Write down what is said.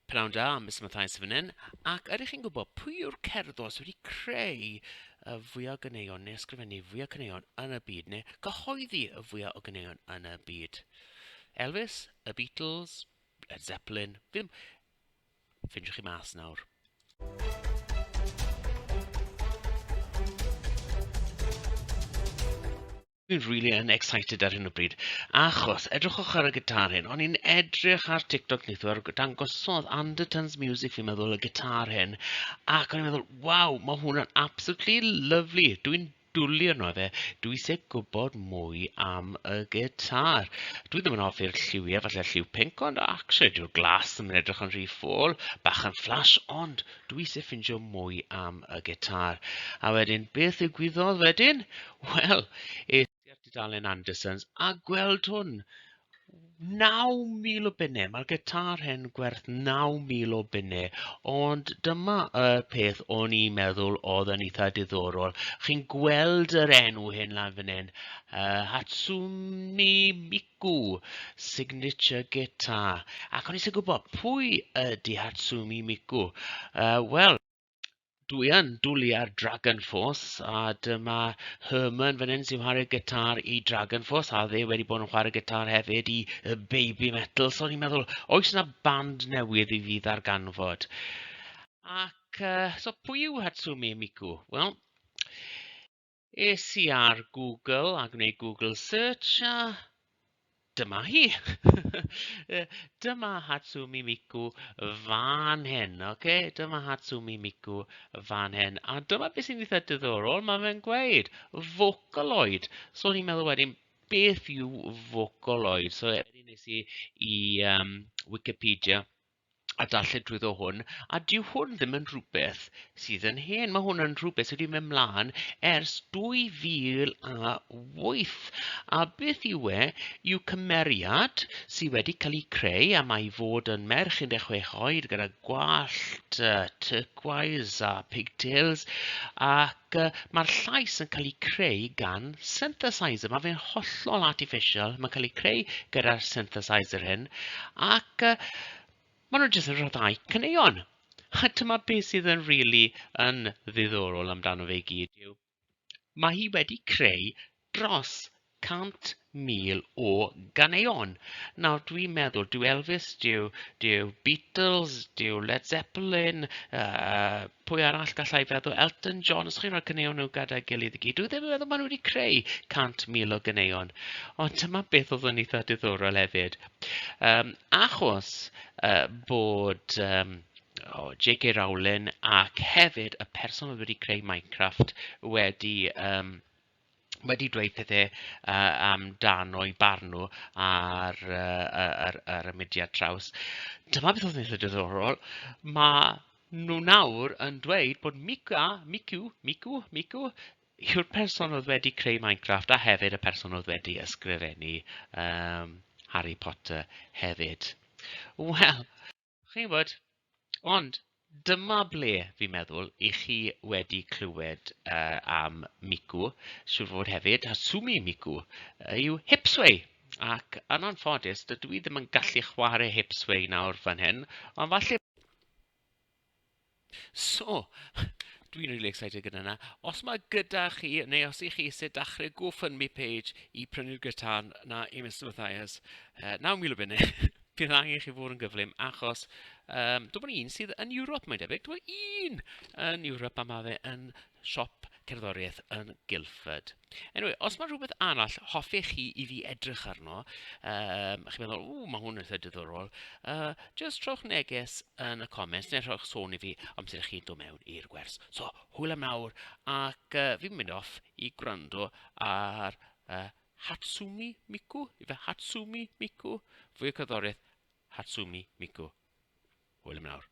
Pnawn da, Mister Mathias fan hyn, ac ydych chi'n gwybod pwy yw'r cerddor sydd wedi creu y fwya o ganeuon neu ysgrifennu fwya caneuon yn y byd neu gyhoeddi y fwya o ganeuon yn y byd? Elvis? Y Beatles? Led Zeppelin? Fi ddim... Ffindiwch chi mas nawr. Dwi'n rili yn excited ar hyn o bryd, achos edrychwch ar y gitar hyn. O'n i'n edrych ar TikTok neithiwr, ar- dangosodd Anderton's Music fi'n meddwl y gitar hyn, ac o'n i'n meddwl, waw, ma' hwnna'n absolutely lovely. Dwi'n dwli arno fe. Dwi isie gwybod mwy am y gitar. Dwi ddim yn hoffi'r lliwiau, falle'r lliw pinc, ond actually dyw'r glas ddim yn edrych yn rhy ffôl. Bach yn flash, ond dwi isie ffindio mwy am y gitar. A wedyn, beth ddigwyddodd wedyn? Wel, es i at dudalen Andersons a gweld hwn. 9,000 o bunnau. Mae'r gitar hyn gwerth 9,000 o bunnau. Ond dyma y peth o'n i'n meddwl oedd yn eitha diddorol. Chi'n gweld yr enw hyn lan fan hyn. Uh, Hatsumi Miku. Gu, signature guitar. Ac o'n i isie gwybod, pwy ydy Hatsumi Miku? Yy, wel, dwi yn dwlu ar Dragon Force, a dyma Herman fan hyn sy'n chwarae gitar i Dragon Force, a fe wedi bod yn chwarae gitar hefyd i yy Baby Metal, so o'n i'n meddwl, oes 'na band newydd i fi ddarganfod? Ac yy so pwy yw Hatsumi Miku? Wel, Es i ar Google a gwneud Google search a dyma hi. dyma Hatsumi Miku fan hyn, oce? Okay? Dyma Hatsumi Miku fan hyn. A dyma beth sy'n eitha diddorol, mae fe'n gweud, Vocaloid. So ni'n meddwl wedyn, beth yw Vocaloid? So wedyn nes i i um, Wikipedia a darllen drwyddo hwn, a dyw hwn ddim yn rhywbeth sydd yn hen. Mae hwn yn rhywbeth sydd wedi mynd mlaen ers 2008. A beth yw e? Yw cymeriad sydd wedi cael ei creu a mae i fod yn merch 16 oed gyda gwallt uh, turquoise a pigtails ac ac yy ma'r llais yn cael ei creu gan synthesizer. Mae fe'n hollol artificial, mae'n cael ei creu gyda'r synthesizer hyn, ac yy maen nhw jyst yn rhyddhau caneuon. A dyma beth sydd yn rili yn ddiddorol amdano fe i gyd yw, mae hi wedi creu dros 100,000 o ganeuon. Nawr dwi'n meddwl, dyw Elvis, dyw, dyw Beatles, dyw Led Zeppelin, uh, pwy arall gallai feddwl, Elton John, os chi'n rhoi caneuon nhw gyda'i gilydd i gyd, dwi ddim yn meddwl maen nhw wedi creu 100,000 o ganeuon. Ond dyma beth oedd yn eitha diddorol hefyd. Um, achos uh, bod... Um, o J.K. Rowling ac hefyd y person oedd wedi creu Minecraft wedi um, wedi dweud pethe yy amdano ei barn nhw ar yy yy yr yr y mudiad traws. Dyma beth oedd yn eitha diddorol, ma' nhw nawr yn dweud bod Mica, Miku, Miku, Miku yw'r person oedd wedi creu Minecraft a hefyd y person oedd wedi ysgrifennu yym Harry Potter hefyd. Wel, Chi'n gwybod, ond dyma ble fi'n meddwl 'y chi wedi clywed yy am Migu, siŵr o fod hefyd, Hasumi Migu, yw Hipsway. Ac yn anffodus, dydw i ddim yn gallu chwarae Hipsway nawr fan hyn, ond falle... So, dwi'n rili excited gyda 'na. Os mae gyda chi, neu os 'y chi isie dachrau GoFundMe page i prynu'r gitar 'na i Mister Mathias, yy naw mil o bunne, bydd angen i chi fod yn gyflym, achos yym dwi'n gwybod un sydd yn Ewrop, mae'n debyg. Dwi'n gwybod un yn Ewrop a ma' fe yn... siop cerddoriaeth yn Guildford. Anyway, os mae rhywbeth arall hoffech chi i fi edrych arno, yym, chi'n meddwl, ww, mae hwn yn eitha diddorol, uh, jyst rhowch neges yn y comments neu rhowch sôn i fi amser i chi'n dod mewn i'r gwers. So, hwyl am nawr, ac uh, fi'n mynd off i gwrando ar uh, Hatsumi Miku, ife Hatsumi Miku, fwy o cerddoriaeth Hatsumi Miku. Hwyl am nawr.